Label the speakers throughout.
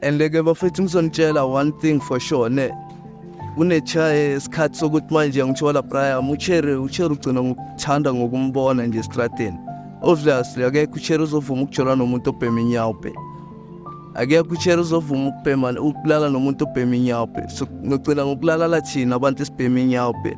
Speaker 1: and ke bafethu ngizonitshela one thing for sure ne kunechaye isikhathi sokuthi manje ngithola Brian uchere uchere ugcina ngokuthanda ngokumbona nje estradeni obviously akekho uchere uzovuma ukujolwa nomuntu obhema inyawo bhe akekho uchere uzovuma ukubhema ukulala nomuntu obhema inyawo bhe so ngigcina ngokulalala thina abantu esibhema inyawo bhe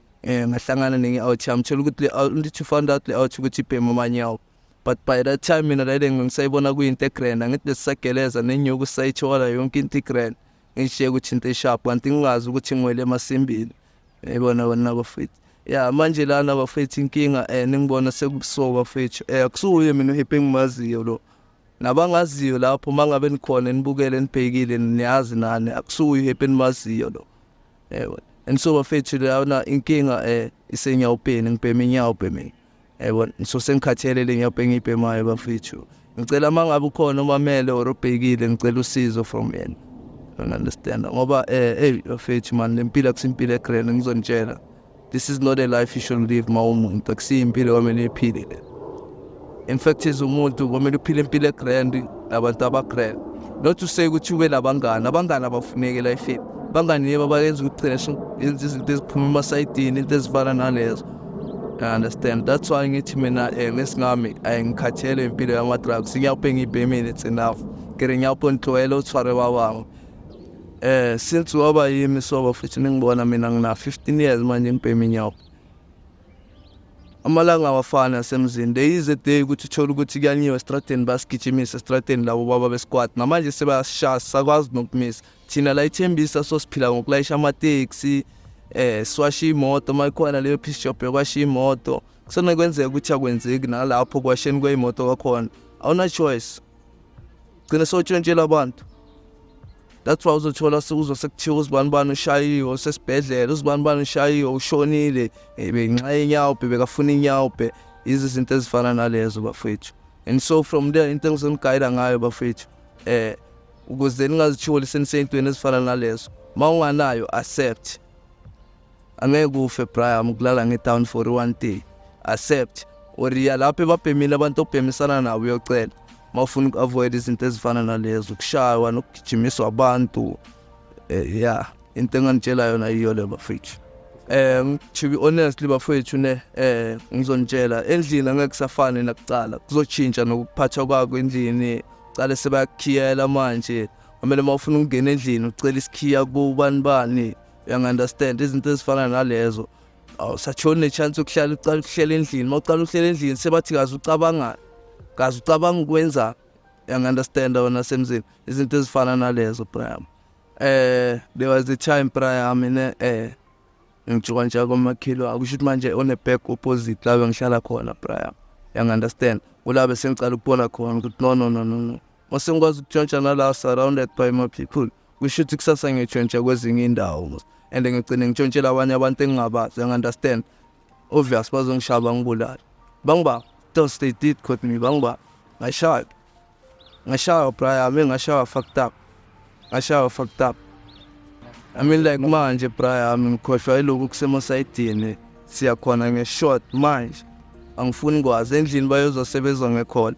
Speaker 1: um ngahlangana nenye out yami thola ukuthi le to find out le out ukuthi ibhema amanyawo but by that time mina lale ngisayibona kuyinto egrand angithi besisageleza nenyuku sayithola yonke into igrand ngishiye ukuthi into esharp kanti ngingazi ukuthi ngwele emasimbini yayibona kona bafethu ya manje lana bafethu inkinga um ningibona sekubusuku bafethu um akusuye mina uhiphe engimaziyo lo nabangaziyo lapho uma ngabe nikhona nibukele nibhekile niyazi nani akusuye uhiphe enimaziyo lo yebo and so bafethu lana inkinga eh isenyawupeni ngibhema inyawupe mina yebo so sengikhathele le nyawupe engiyibhemayo bafethu ngicela uma ngabe ukhona umamele or ubhekile ngicela usizo from yena don't understand ngoba eh hey bafethu man lempilo akusimpilo egrand ngizonitshela This is not a life you should live mawumuntu akusiyo impilo kwamele iphile le. In fact as umuntu kwamele uphile impilo egrand nabantu abagrand. Not to say ukuthi ube nabangani, abangani abafuneki life. Bangani yebo bayenza ukucesha, yenza izinto eziphuma emasayidini, into ezifana nalezo. I understand. That's why ngithi mina eh ngesingami ayingikhathele impilo yama drugs. Ngiyawubhenga ibhemini it's enough. Ngere ngiyawubona tlwela uthware babami. Eh since waba yimi soba futhi ningibona mina ngina 15 years manje ngibhemi nyawo. Amalanga awafani asemzini. There is a day ukuthi uthola ukuthi kuyanyiwa estradeni basigijimisa estradeni labo baba besquad. Namanje sebashaya sakwazi nokumisa. Thina la ithembisa sosiphila ngokulayisha ama taxi eh siwasha imoto mayikhona leyo piece job yokwasha imoto. Kusenokwenzeka ukuthi akwenzeki nalapho kwasheni kweyimoto kwakhona. Awuna choice. gcine sotshentshela abantu that's why uzothola sekuzo sekuthiwa uzibani bani ushayiwe usesibhedlela uzibani bani ushayiwe ushonile benxa yenyawo bhe bekafuna inyawo bhe yizi zinto ezifana nalezo bafethu and so from there into engizonigayida ngayo bafethu eh ukuze ningazitholi seniseyintweni ezifana nalezo uma unganayo accept angeke ufe Brian ukulala ngetown for one day accept or ya lapho ebabhemile abantu obhemisana nabo uyocela mawufuna uku-avoid izinto ezifana nalezo ukushaywa nokugijimiswa abantu eh, ya into enganitshela yona yiyo le bafethu um to be honestly bafowethu ne um ngizonitshela endlini angeke kusafane nakucala kuzotshintsha nokuphathwa kwako endlini cale sebayakukhiyela manje kumele uma ufuna ukungena endlini ucela isikhiya kubani bani uyangi-understand izinto ezifana nalezo awusatholi nechance yokuhlala uqala ukuhlela endlini uma uqala ukuhlela endlini sebathi kaze ucabangani kaze ucabanga ukwenzani uyangi-understanda wena semzini izinto ezifana nalezo brayam eh there was a time prior mina eh ngijuka nje komakhilo akusho ukuthi manje one back opposite la bengihlala khona prior yang understand kula bese ngicala ukubona khona ukuthi no no no no no Mase ngikwazi ukutshontsha nala surrounded by my people. Kusho ukuthi kusasa ngitshontsha kwezinye indawo and ngigcine ngitshontshela abanye abantu engingabazi and understand. Obvious bazongishaba ngibulala. Bangibamba. Those they did caught me bangibamba. Ngashaya. Ngashaya braya, mina ngashaya fucked up. Ngashaya fucked up. I mean like manje braya, ngikhohlwa iloku kusemosayidini. Siyakhona nge short manje. Angifuni kwazi endlini bayozosebezwa ngekhona.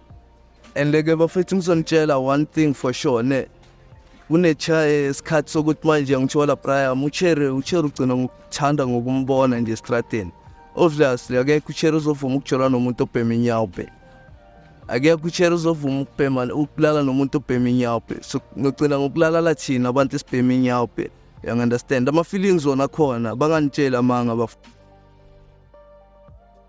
Speaker 1: and ke bafethu ngizonitshela one thing for sure ne kunesikhathi sokuthi manje ngithola brian uchere uchere ugcina ngokuthanda ngokumbona nje estradeni obviously akekho uchere uzovuma ukujola nomuntu obhema inyawo bhe akekho uchere uzovuma ukubhema ukulala nomuntu obhema inyawo bhe so ngigcina ngokulalala thina abantu esibhema inyawo bhe uyangunderstand ama-feelings wona khona banganitsheli amanga bafo